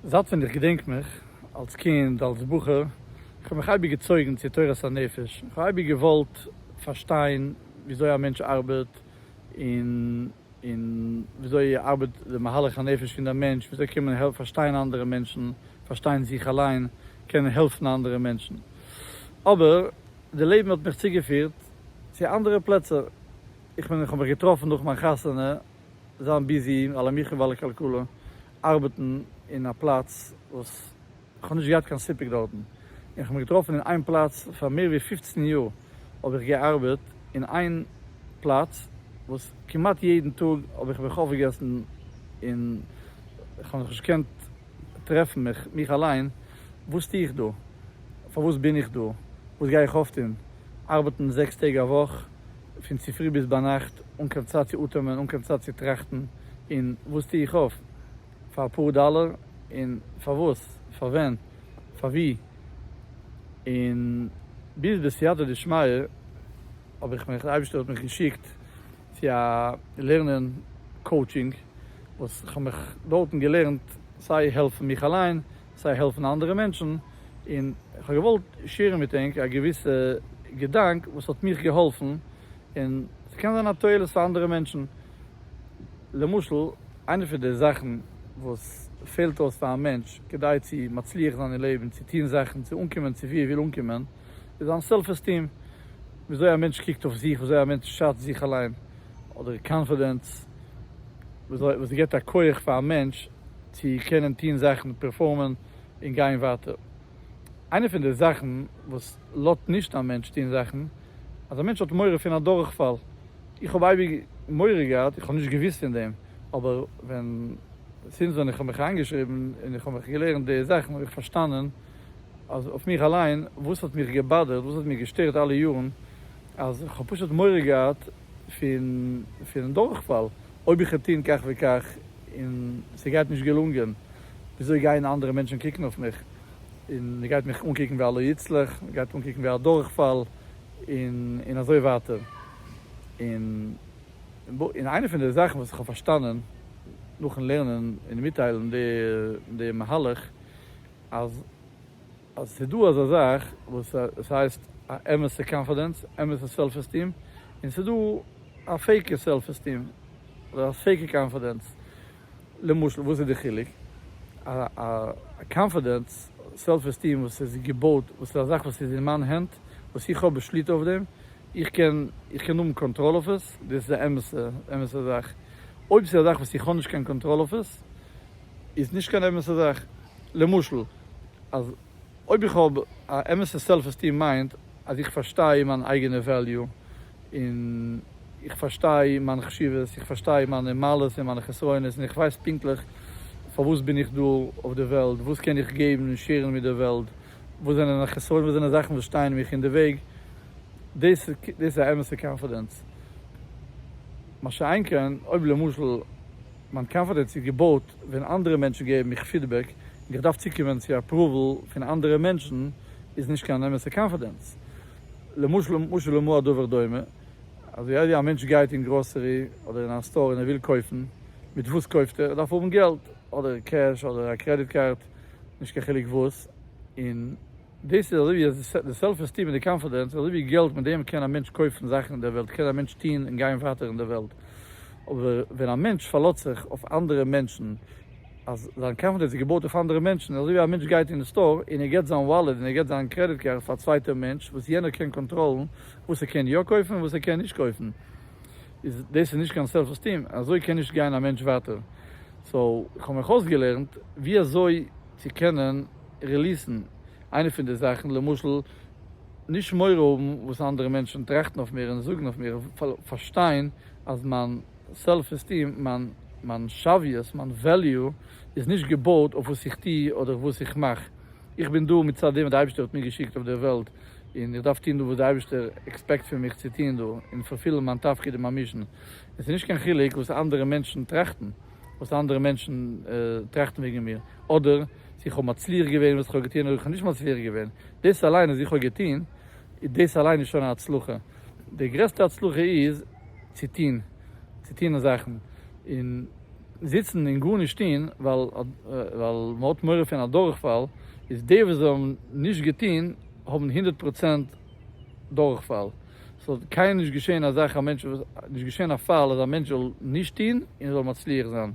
זייט ווען איך געדענק מיך, אלס קינד, אלס בחור, איך האב מיך אייביג געצויגן צו תורת הנפש, איך האב אייביג געוואלט פארשטיין וויאזוי א מענטש ארבעט, און און וויאזוי ארבעט די מהלך הנפש פון דער מענטש, וויאזוי קען מען העלפן פארשטיין אנדערע מענטשן, פארשטיין זיך אליין, קענען העלפן אנדערע מענטשן. אבער די לעבן האט מיך צוגעפירט צו אנדערע פלעצער, איך מיין איך האב מיך געטראפן נאך מיין חתונה, זיין ביזי על המחיה ועל הכלכלה, ארבעטן אין א פלאץ וואס כ'האב נישט געהאט קיין סיפוק דארטן, און כ'האב מיך געטראפן אין איין פלאץ פאר מער ווי פֿופֿצן יאר האב איך געארבעט אין איין פלאץ וואס כמעט יעדן טאג האב איך מיך אויפגעגעסן און כ'האב זיך נישט געקענט טרעפן מיך מיך אליין, וואס טו איך דא? פארוואס בין איך דא? וואס גיי איך אויפטון? ארבעטן זעקס טעג א וואך? פון צופרי ביז ביינאכט אן קיין צייט צו אטעמען, אן קיין צייט צו טראכטן, און וואס טו איך אויף? פאר אפאר דאלער? און פארוואס? פאר ווען? פאר ווי? און ביז בסייעתא דשמיא האב איך מיך, די אייבערשטער האט מיך געשיקט צו א לערנען קאוטשינג, וואס כ'האב מיך דארטן געלערנט סיי העלפן מיך אליין, סיי העלפן אנדערע מענטשן, און כ'האב געוואלט שעירן מיט ענק א געוויסע געדאנק וואס האט מיך געהאלפן, און ס'קען זיין א תועלת פאר אנדערע מענטשן. למשל, איינע פון די זאכן וואס פעלט אויס פאר א מענטש כדי צו מצליח זיין אין לעבן, צו טון זאכן, צו אנקומען צו וואו ער וויל אנקומען, איז זיין סעלף עסטיעם, ווי אזוי א מענטש קוקט אויף זיך, ווי אזוי א מענטש שאצט זיך אליין, אדער קאנפידענס, וואס גיבט א כח פאר א מענטש צו קענען טון זאכן, פערפארמען און גיין ווייטער. איינע פון די זאכן וואס לאזט נישט א מענטש טון זאכן, אז א מענטש האט מורא פון א דורכפאל. איך האב אייביג מורא געהאט, איך האב נישט געוואוסט פון דעם, אבער ווען, זינט ווען איך האב מיך איינגעשריבן און איך האב מיך געלערנט די זאכן, האב איך פארשטאנען אז אויף מיך אליין, וואס האט מיך געבאדערט, וואס האט מיר געשטערט אלע יארן, אז איך האב פשוט מורא געהאט פון דורכפאל. אויב איך וועל טון כך וכך און ס'גייט נישט געלונגען, וויאזוי גייען אנדערע מענטשן קוקן אויף מיך? און מ'גייט מיך אנקוקן ווי א לא יצלח, מ'גייט אנקוקן ווי א דורכפאל, און און אזוי ווייטער. און און איינע פון די זאכן וואס איך האב פארשטאנען נאכן לערנען און מיטטיילן די די מהלך, אז אז עס איז דא אזא זאך וואס עס הייסט א אמת'ע קאנפידענס, אמת'ע סעלף עסטיעם, און עס איז דא א פעיקע סעלף עסטיעם, אדער א פעיקע קאנפידענס. למשל וואס איז די חילוק? א א קאנפידענס, סעלף עסטיעם וואס איז געבויט, וואס איז א זאך וואס איז אין מיין הענט, וואס איך האב שליטה אויף דעם, איך קען איך קען האבן קאנטראל אויף עס, דאס איז א אמת'ע אמת'ע זאך. אויב עס איז א זאך וואס איך האב נישט קיין קאנטראל אויף עס, איז נישט קיין אמת'ע זאך, למשל אז אויב איך האב א אמת'ע סעלף עסטים מיינט אז איך פארשטיי מיין אייגענע וועליו און איך פארשטיי מיין חשיבות, איך פארשטיי מיינע מעלות און מיינע חסרונות און איך ווייס פונקטליך פארוואס בין איך דא אויף די וועלט, וואס קען איך געבן און שעירן מיט די וועלט, וואס זענען מיינע חסרונות, וואס זענען זאכן וואס שטייען מיך אין די וועג, דאס איז א אמת'ע קאנפידענס, מה שאין כן אויב למשל. מיין קאנפידענס איז געבויט ווען אנדערע מענטשן געבן מיך פידבעק, און איך דארף צוקומען צו אפראוועל פון אנדערע מענטשן איז נישט קיין אמת'ע קאנפידענס. למשל משל למה הדבר דומה, אזוי איידער א מענטש גייט אין גראסערי אדער אין א סטאר און ער וויל קויפן, מיט וואס קויפט ער? ער דארף האבן געלט, אדער קעש אדער א קרעדיט קארד, נישט קיין חילוק וואס, און. דאס איז אזוי ווי די סעלף עסטיעם און די קאנפידענס, אזוי ווי געלט מיט דעם קען א מענטש קויפן זאכן אין דער וועלט, קען א מענטש טון און גיין ווייטער אין דער וועלט, אבער ווען א מענטש פארלאזט זיך אויף אנדערע מענטשן, אז זיין קאנפידענס איז געבויט אויף אנדערע מענטשן, אזוי ווי א מענטש גייט אין סטאר און ער גיבט זיין וואלעט און ער גיבט זיין קרעדיט קארד פאר א צווייטער מענטש וואס יענער קען קאנטראלן וואס ער קען יא קויפן און וואס ער קען נישט קויפן, איז דאס איז נישט קיין סעלף עסטיעם, אזוי קען נישט גיין א מענטש ווייטער, סאו איך האב מיך אויסגעלערנט ווי אזוי צו קענען. ריליסן איינע פון די זאכן, למשל נישט מורא האבן וואס אנדערע מענטשן טראכטן אויף מיר און זאגן אויף מיר, פארשטיין אז מיין סעלף עסטים, מיין שוויות, מיין וועליו איז נישט געבויט אויף וואס איך טו אדער וואס איך מאך, איך בין דא מצד דעם וואס די אייבערשטער האט מיר געשיקט אויף דער וועלט און איך דארף טון דא וואס די אייבערשטער עקספעקט פון מיך צו טון דא און פארפילן מיין תפקיד און מיין מישן, עס איז נישט קיין חילוק וואס אנדערע מענטשן טראכטן. וואס אנדערע מענטשן טראכטן וועגן מיר, אדער צו איך האב מצליח געווען וואס איך האב געטון אדער איך האב נישט מצליח געווען, דאס אליין אז איך האב געטון, דאס אליין איז שוין א הצלחה, די גרעסטע הצלחה איז צו טון, צו טון זאכן, און זיצן און גארנישט טון ווייל מען האט מורא פון א דורכפאל, איז די וואס האבן נישט געטון האבן הונדערט פראצענט דורכפאל. ס'זאל קיינמאל נישט געשען א זאך א מענטש וואס, נישט געשען א פאל אז א מענטש זאל נישט טוהן און ער זאל מצליח זיין.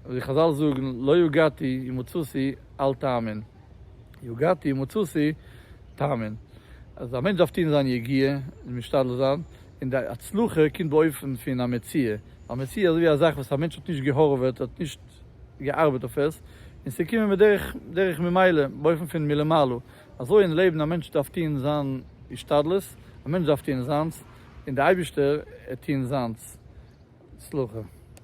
ווי חזל זאגן, לא יגעתי ומצאתי אל תאמין, יגעתי ומצאתי תאמין. אז א מענטש דארף טוהן זיין יגיעה און משתדל זיין, און די הצלחה קומט באופן פון א מציאה. א מציאה איז אזויווי א זאך וואס א מענטש האט נישט געהארוועט, האט נישט געארבעט אויף עס, און ס'קומען בדרך ממילא, באופן פון מלמעלה. אזוי אין לעבן, א מענטש דארף טון זיין השתדלות, א מענטש דארף טון זיינס, און די אייבישטער ער טון זיינס. הצלחה.